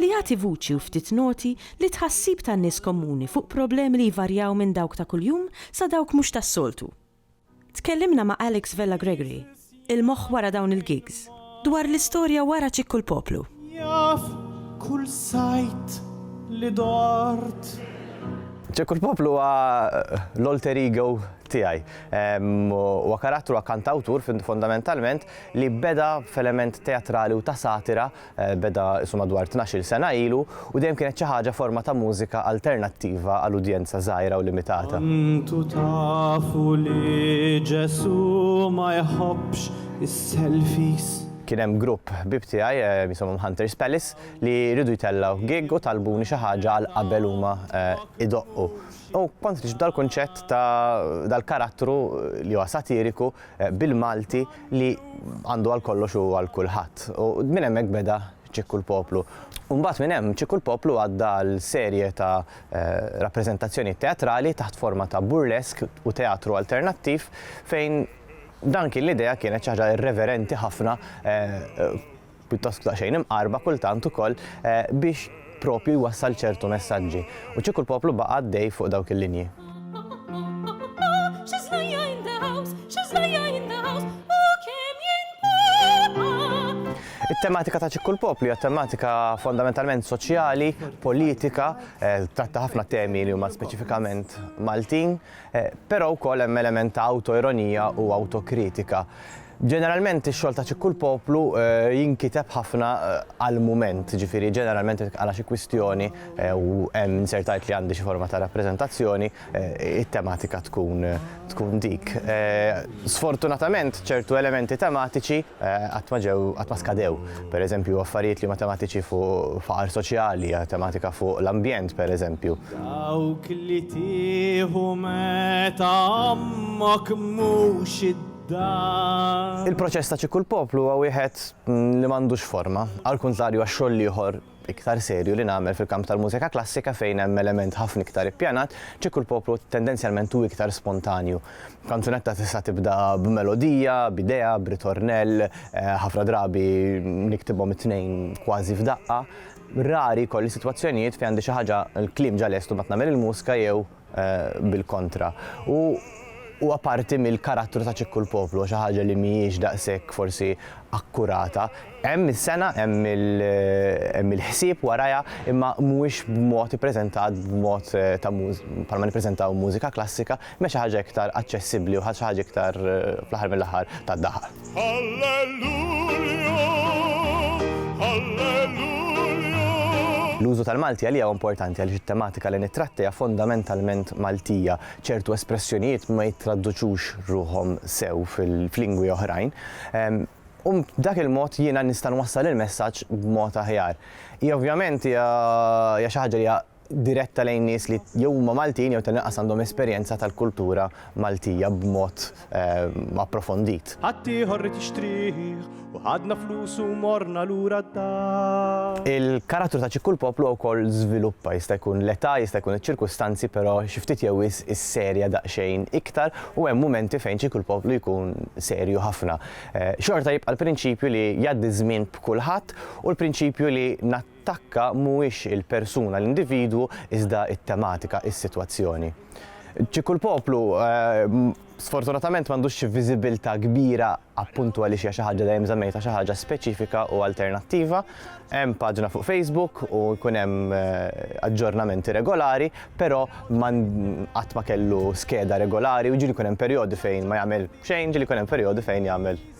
li jagħti vuċi u ftit noti lit-tħassib tan-nies komuni fuq problemi li jvarjaw minn dawk ta' kuljum sa dawk mhux tas-soltu. Tkellimna ma' Alex Vella Gregory, il-moħħ wara dawn il-gigs, dwar l-istorja wara Ċikku l-Poplu. Jaf kull sajd li dort. Ċikku l-Poplu huwa l-alter ego tiegħi. Huwa karattru, huwa kantawtur fondamentalment li beda f'element teatrali u ta' satira Beda isu madwar tnax-il sena ilu u dejjem kienet xi ħaġa forma ta' mużika alternattiva għal udjenza żgħira u limitata. Kontu tafu li Ġesù ma jħobbx is-selfies? Kien hemm grupp ħbieb tiegħi jisimhom Hunters Palace li riedu jtellgħu gig u talbuni xi ħaġa għal qabel huma jdoqqu. U kont niġbed dal-kunċett ta' dal-karattru li huwa satiriku bil-Malti li għandu għal kollox u għal kulħadd. U minn hemmhekk beda Ċikku l-Poplu. U mbagħad minn hemm Ċikku l-Poplu għadda għal serje ta' rappreżentazzjonijiet teatrali taħt forma ta' burlesk u teatru alternattiv fejn dan kien l-idea kienet xi ħaġa irreverenti ħafna pjuttost daqsxejn imqarrba kultant ukoll biex proprju jwassal ċertu messaġġi. U kieku l-poplu baqa' għaddej fuq dawk il-linji. It-tematika ta' Ċikku l-Poplu hija tematika fondamentalment soċjali, politika, tratta ħafna temi li huma speċifikament Maltin. Però wkoll hemm element ta' awtoironija u awtokritika. Ġeneralment ix-xogħol ta' Ċikku l-Poplu jinkiteb ħafna għall-mument, jiġifieri ġeneralment jekk għala xi kwistjoni u hemm inzertajt li għandi xi forma ta' rappreżentazzjoni, it-tematika tkun tkun dik. Sfortunatament ċertu elementi tematiċi qatt ma ġew, qatt ma skadew. Pereżempju, affarijiet li huma tematiċi fuq faqar soċjali, tematika fuq l-ambjent, pereżempju. Dawk li tieħu meta ommok mhux id Il-proċess ta' Ċikku l-Poplu huwa wieħed li m'għandux forma, għall-kuntrarju għax-xogħol l-ieħor iktar serju li nagħmel fil-kamp tal-mużika klassika fejn hemm element ħafna iktar ippjanat, kieku l-poplu tendenzjalment hu iktar spontanju. Kanzunetta tista' tibda b'melodija, b'idea, b'ritornell, ħafna drabi niktibhom it-tnejn kważi f'daqqa. Rari jkolli sitwazzjonijiet fejn għandi xi ħaġa l-kliem ġa lest u mbagħad nagħmel il-mużka jew bil-kontra. U huwa parti mill-karattru ta' Ċikku l-Poplu, xi ħaġa li mhijiex daqshekk forsi akkurata. Hemm is-sengħa, hemm il-ħsieb warajha, imma mhuwiex b'mod ippreżentat b'mod ta' bħalma nippreżentaw mużika klassika, imma xi ħaġa iktar aċċessibbli u xi ħaġa iktar fl-aħħar mill-aħħar tad-dahar. L-użu tal-Malti għalija huwa importanti għaliex it-tematika li nittratti hija fondamentalment Maltija. Ċertu espressjonijiet ma jittraduċux ruħhom sew f'lingwi oħrajn. U b'dak il-mod jiena nista' nwassal il-messaġġ b'mod aħjar. Hija ovvjament hija xi ħaġa li hija diretta lejn nies li jew huma Maltin jew tal-inqas għandhom esperjenza tal-kultura Maltija b'mod approfondit. Ħaddieħor ried jixtrih u ħadna flusu u morna lura d-dar. Il-karattru ta' Ċikku l-Poplu wkoll żviluppa, jista' jkun l-età, jista' jkun iċ-ċirkustanzi però xi ftit jew wisq isserja daqsxejn iktar u hemm mumenti fejn Ċikku l-Poplu jkun serju ħafna. Xorta jibqa' l-prinċipju li jgħaddi ż-żmien b'kulħadd u l-prinċipju li Takka mhuwiex il-persuna, l-individwu, iżda t-tematika, is-sitwazzjoni. Ċi kull poplu, sfortunatament, m'għandux xi viżibilità kbira appuntu għaliex hija xi ħaġa dejjem żammejtha xi ħaġa speċifika u alternattiva. Hemm paġna fuq Facebook u jkun hemm aġġornamenti regolari, però qatt ma kellu skeda regolari, jiġifieri jkun hemm perjodi fejn ma jagħmel xejn, ġieli jkun hemm perjodi fejn jagħmel.